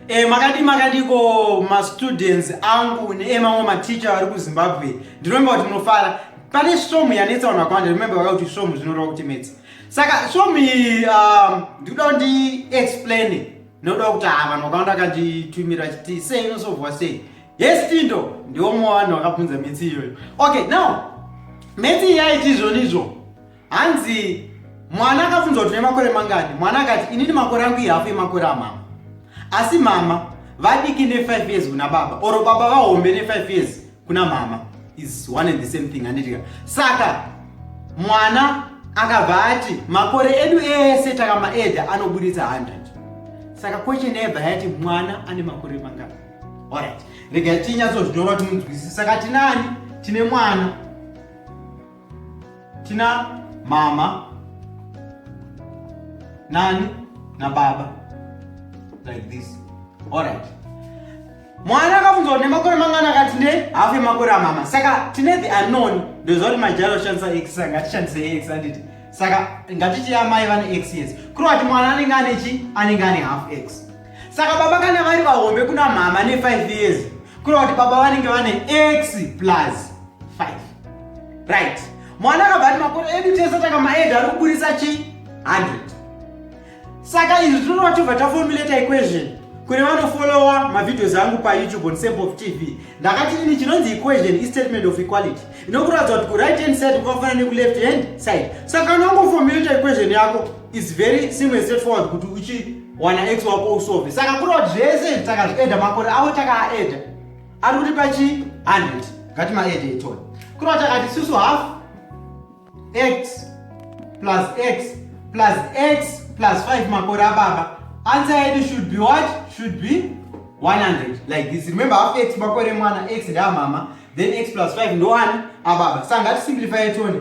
E, makadii makadiko mastudents angu neemamwe maticha vari kuzimbabwe ndinomba kuti munofara pane svomu yanetsa vanhu vakawanda remembe vaka kuti svomu zvinoreva kuti metsi saka svomu iyi um, ndikuda um, kuti explain noda kuti ha ah, vanhu vakawanda vakanditumira chiti sei inosovhwa sei yes tindo ndiwo mumwe vanhu vakabvunza metsi iyoyo okay now metsi yaiti izvonizvo hanzi mwana akafunza kuti nemakore mangani mwana akati inini makore angu ihafu yemakore amama asi mama vadiki ne5 years kuna baba or baba vahombe ne5 years kuna mama is one and the same thing handitika saka mwana akabva ati makore edu ese takamaeda anoburitsa 100 saka question yebva yati mwana ane makore mangani orit rega tinyatso zvinyora kuti munzwisisa saka tinani tine mwana tina mama nani nababa like this alright mwana akabvunzwa kuti nemakore mangani akati ne hafu yemakore amama saka tine the unknown ndoziva kuti majalo oshandisa x saka ngatishandise x anditi saka ngatichiya mai vane x yes kureva kuti mwana anenge ane chi anenge ane half x saka baba kana vari vahombe kuna mhama ne5 years kureva kuti baba vanenge vane x plus 5 right mwana akabva ati makore edu tese taka maedha ari kuburisa chi 100 saka izvi tinoona tobva taformulata equation kune vanofolowa mavideos angu payoutube on sample of tv ndakati ini chinonzi equation istatement of equality inokuratidza kuti kuright hand side kwakafanana nekuleft hand side saka unongoformulata equation yako is very simple and straightforward kuti uchi wana ex wako usove saka kureva kuti zvese takazvieda makore avo takaaeda ari kuti pachi 100 ngati maede itoni kureva takati susu half x plus x plus x plus 5 makore ababa answer yedu should be what should be 100 like this remember half x makore mwana x ndeamama then x plus 5 ndoani ababa saka ngati simplify itoni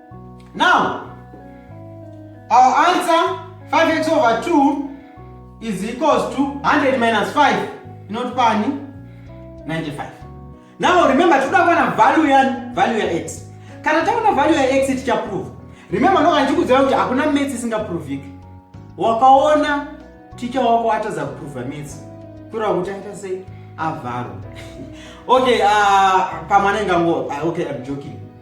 Now, our answer 5x over 2 is equals to 100 minus 5 not pani 95 now remember toda kuwana value ya value ya x kana taona value ya x tichaprove remember ndoka ndichikuziva kuti hakuna maths isingaproviki wakaona ticha wako atadza kuprova maths kureva kuti aita sei avharo okay uh, pamwe anenge ango ah, okay I'm joking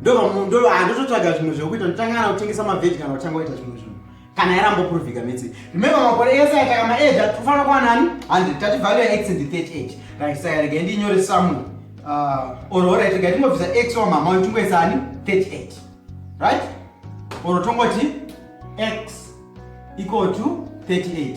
ndova handototsvaga zvimwe zvekuita ndotanga kana kutengesa mavheji kana kutanga kuita zvimwe zvinhu kana yarambopruvhika metsi remember makore ese yataka maedha tofanira kuva nani handi tati value ya x and 30 age right saka rega ndinyore samwe uh, or orit rega tingobvisa x wa mama uyu tingoisa ani 38 right or tongoti x equal to 38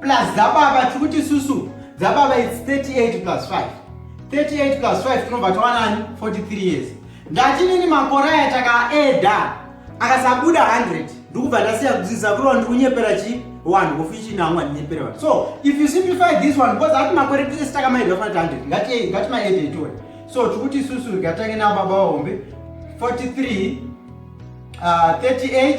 plus dzababa tiri kuti susu dzababa its 38 plus 5 38 plus 5 tinobva tawanani 43 years ndatinini makore aya takaeda akasabuda 100 ndikubva ndasiya kudzidza kurova ndikunyepera chii one ngofu ichina amwe andinyepere vanhu so if you simplify this one because ati makore tese takamaedwa fana tihundred ngati ngati maede itiwe so tikuti isusu rikatange nababa vahombe 43 uh, 38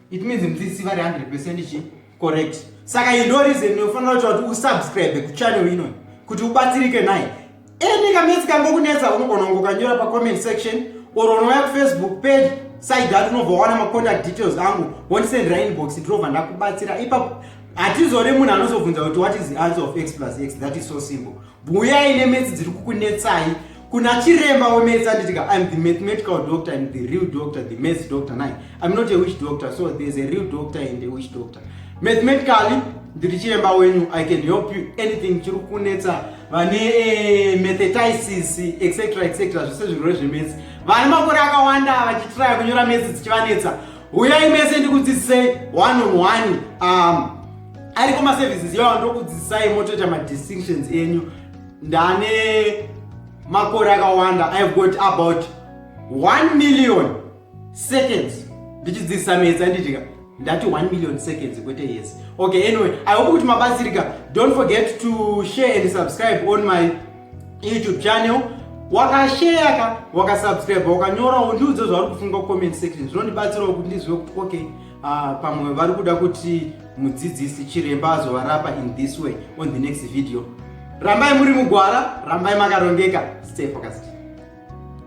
It means mdzisi vari 100% chi correct. Saka iyi ndo reason inofanira kuita kuti usubscribe kuchannel ino kuti ubatsirike naye. Any kamesi kangokunetsa unogona kungokanyora pa comment section or unouya kufacebook page side ati unobva wawana macontact details angu wondisendera inbox ndinobva ndakubatsira ipapo hatizore munhu anozobvunza kuti what is the answer of x plus x that is so simple buyai nemetsi dziri kukunetsai kuna chiremba wemedzi anditi ka im the mathematical doctor and the real doctor the maths doctor nai im not a witch doctor so there's a real doctor and a witch doctor mathematically ndiri chiremba wenyu i can help you anything chiri kunetsa vane eh, methetisis etc etc zvese zvirwere zvemetsi vane makore akawanda vachitiraya kunyora metsi dzichivanetsa huyai mese ndikudzidzisei one on one um, ariko maservices iwawa ndokudzidzisai motoita madistinctions enyu ndane makore akawanda i have got about 1 million seconds ndichidzidzisa metsa nditika ndati 1 million seconds kwete yes okay anyway i hope kuti mabatsirika don't forget to share and subscribe on my youtube channel wakasheya ka wakasubscribe wakanyorawo ndiudze zvauri kufunga kucomment section zvinondibatsirawo kuti ndizive kuti okay Uh, pamwe vari kuda kuti mudzidzisi chiremba azovarapa in this way on the next video rambai muri mugwara rambai makarongeka stay focused